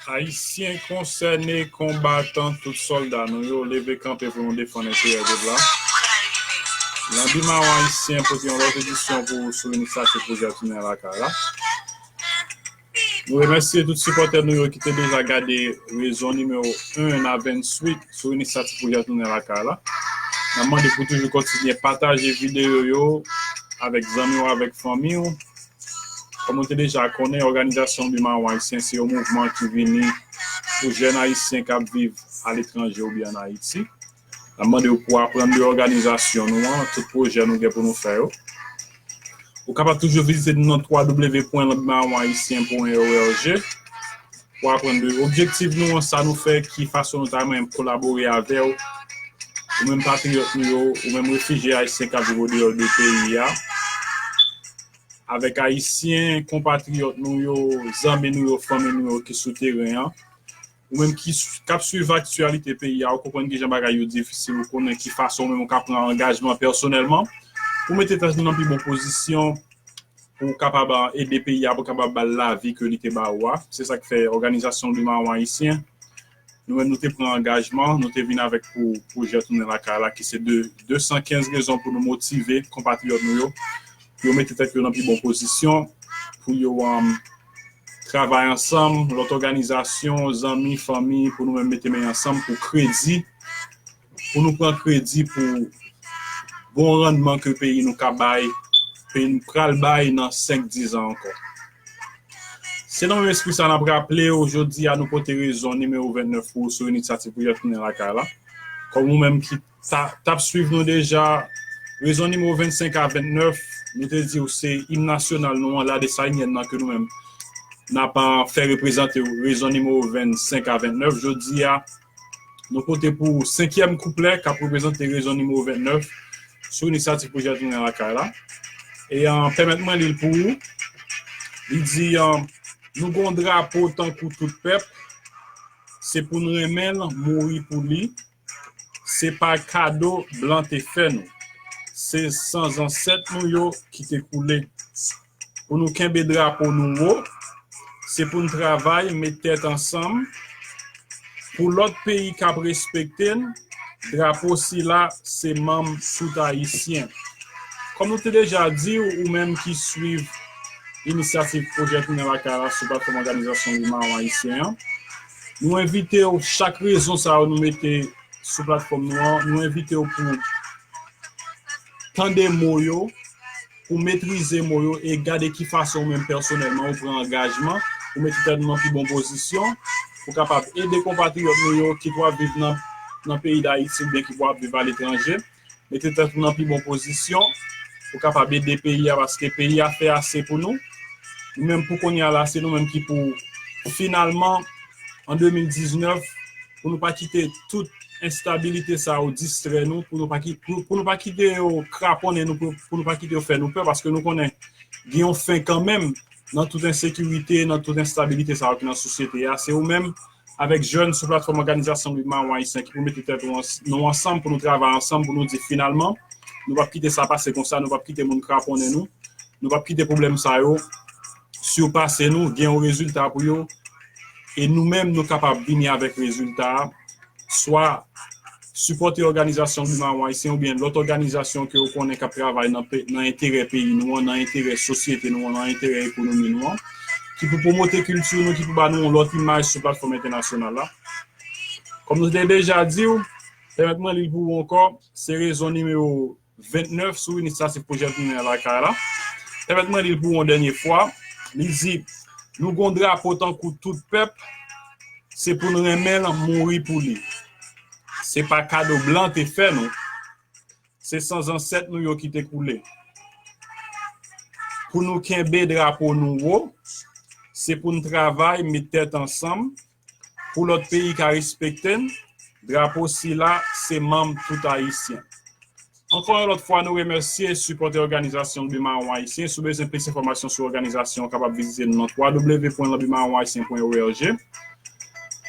Ayisyen konsène, konbatan, tout sòlda nou yo, leve kanpe pou nou defann enterè pèp la. Lanbi Mawon Ayisyen pote yon lòt edisyon pou ou sou inisyativ Pwojè Tounen Lakay la. Nou remèsye tout sipòtè nou yo ki te deja gade rezon nimewo 1 nan 28 sou inisyativ Pwojè Tounen Lakay la. N ap mande pou toujou kontinye pataje videyo yo avèk zanmi w, avèk fanmi w. Kòm nou te deja konnen, òganizasyon Biman Ayisyen se yon mouvman ki vini pou jèn ayisyen k ap viv aletranje oubyen ann Ayiti. N ap mande ou pou w aprann de òganizasyon nou an, tout pwojè nou gen pou nou fè yo. Ou kapab toujou vizite nou nan www pwen lbimawayisyen pwen org. Pou aprann de objektiv nou an, sa nou fè, ki fason nou ta renmen kolabore avè w, ou menm patriyòt nou yo, ou menm refijye ayisyen k ap viv odeyò de peyi a, avèk ayisyen konpatriyòt nou yo, zanmi nou yo, fanmi nou yo ki sou teren an, ou menm ki k ap suiv aktyalite peyi a, ou konprann ki jan bagay yo difisil, ou konnen ki fason ou menm ou ka pran angajman pèsonèlman pou mete tèt nou nan pi bon pozisyon. pou w kapab ede peyi a pou kapab ba l lavi ke li te ba ou a. Se sa k fè òganizasyon Li Mawon Ayisyen, nou menm nou te pran angajman, nou te vin avèk pou pwojè Tounen Lakay la ki se 215 rezon pou nou motive konpatriyòt nou yo pou yo mete tèt yo nan pi bon pozisyon, pou yo travay ansanm, lòt òganizasyon, zanmi, fanmi, pou nou menm mete men ansanm pou kredi. pou nou pran kredi pou bon rannman ke peyi nou ka bay, peyi nou pral bay nan 5, 10 an ankò. Se nan menm espri sa a n ap raple ou jodi a nou pote rezon nimewo 29 pou ou sou Inityativ pou Jèfrinen Lakay la. Kòm ou menm ki ta t ap swiv nou deja, rezon nimewo 25 a 29, nou te di ou se Im Nasyonal nou an, Ladesayinyèn nan ke nou menm n ap fè reprezante ou, rezon nimewo 25 a 29 jodi a. Nou pote pou ou senkyèm kouplè k ap reprezante rezon nimewo 29 sou inisyativ pwojè Tounen Lakay la. E pèmèt mwen li l pou ou. Li di, Nou gen yon drapo tankou tout pèp, se pou n renmen l, mouri pou li. Se pa kado blan te fè nou. Se san zansèt nou yo ki te koule. Pou nou kenbe drapo nou wo, se pou n travay met tèt ansanm pou lòt peyi k ap respekte n, drapo sila se manm sout ayisyen. Kòm nou te deja di w ou menm ki swiv Inisyativ Pwojè Tounen Lakay la sou platfòm òganizasyon wi mawon ayisyen an, nou envite w chak rezon sa yo nou mete sou platfòm nou an, nou envite w pou w tande mo yo, Pou metrize mo yo e gade ki fason ou menm pèsonèlman ou pran angajman pou mete tèt nou nan pi bon pozisyon pou kapab ede konpatriyòt nou yo ki pwal viv nan peyi Dayiti oubyen ki pwal ap viv aletranje mete tèt ou nan pi bon pozisyon pou kapab ede peyi a paske peyi a fè ase pou nou nou menm pou kounye a la se nou menm ki pou finalman an 2019 pou nou pa kite tout enstabilite sa yo distrè nou, pou nou pa kite yo kraponnen nou, pou nou pa kite yo fè nou pè, paske nou konnen gen yon fen kanmenm nan tout ensekirite, nan tout enstabilite sa yo ki nan sosyete a. Se ou menm avèk jèn sou platfòm òganizasyon Mouvman Awon Ayisyen ki pou mete tèt nou ansanm, pou nou travay ansanm, pou nou di finalman nou p ap kite sa pase konsa, nou p ap kite moun kraponnen nou, nou p ap kite pwoblèm sa yo sipase nou, gen yon rezilta pou yo. e nou menm nou kapab vini avèk rezilta a, swa sipòte òganizasyon Blue Maron Haïtien oubyen lòt òganizasyon ke ou konnen k ap travay nan enterè peyi nou an, nan enterè sosyete nou an, nan enterè ekonomi nou an, ki pou pwomote kilti nou, ki pou ba nou yon lòt imaj sou platfòm entènasyonal la. Kòm nou te deja di ou, pèmèt mwen li l pou ou ankò, se rezon nimewo. 29 sou inisiyativ Pwojè Tounen Lakay la. Pèmèt mwen li l pou yon dènye fwa. Li di, Nou gen yon drapo tankou tout pèp, se pou n renmen l, mouri pou li. Se pa kado blan te fè nou, se san zansèt nou yo ki te koule. Pou nou kenbe drapo nou wo, se pou n travay, met tèt ansanm, Pou lòt peyi ka respekte n, drapo sila se manm tout Ayisyen. Ankò yon lòt fwa nou remèsye sipòtè òganizasyon Lanbi Mawon Ayisyen. Si w bezwen plis enfòmasyon sou òganizasyon an ou kapab vizite nou nan www.lanbimawonayisyen.org.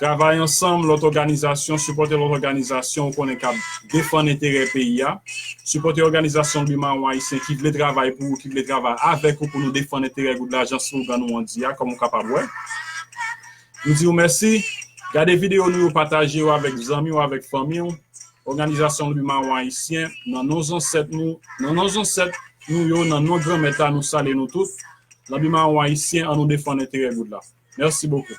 Travay ansanm lòt òganizasyon, sipòtè lòt òganizasyon ou konnen k ap defann enterè peyi a. Sipòtè òganizasyon Lanbi Mawon Ayisyen ki vle travay pou ou, ki vle travay avèk ou pou nou defann enterè gout lajan, slogan nou an di a, kòm ou kapab wè. Nou di w mèsi. Gade videyo nou yo, pataje yo avèk zanmi w, avèk fanmi w. Òganizasyon Lwi Mawon Ayisyen, nan non zansèt nou, nan non zansèt nou yo, nan non Granmèt la, nou salye nou tout. Lanbi Mawon Ayisyen, an nou defann enterè goud la. Mèsi bokou.